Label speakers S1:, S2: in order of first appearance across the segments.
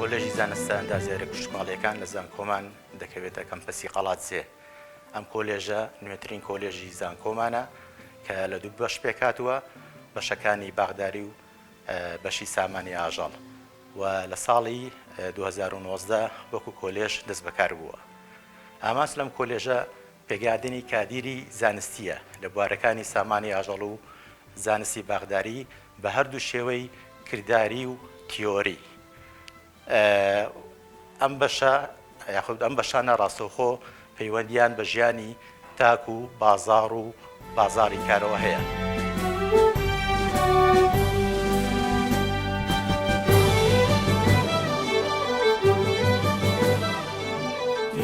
S1: کۆلێژی زانستە ئەندازیارە گشتماڵیەکان لە زانکۆمان دەکەوێتە کەمپەسی قەڵات زێ ئەم کۆلێژە نوێترین کۆلێژی زانکۆمانە کە لە دوو بەش پێکاتوە بەشەکانی باغداری و بەشی سامانی ئاژەڵ و لە ساڵی 2019 وەکو کۆلێژ دەست بەکار بووە ئاماس لەم کۆلێژە پێگەیاندنی کادیری زانستییە لە بوارەکانی سامانی ئاژەڵ و زانستی باخداری بە هەردوو شێوەی کرداری و تیۆری. ئەم بەشە یاخود ئەم بەشانە ڕاستەوخۆ پەیوەندییان بە ژیانی تاک و بازاڕ و. بازاڕی کارەوە هەیە.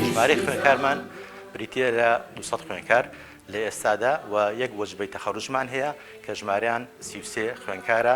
S1: ژمارەی خوێنکارمان بریتییە لە دوو سەد خوێنکار لە ئێستادا و یەک وەجبەی تەخەروجمان هەیە کە ژمارەیان سی و سێ خوێنکارە،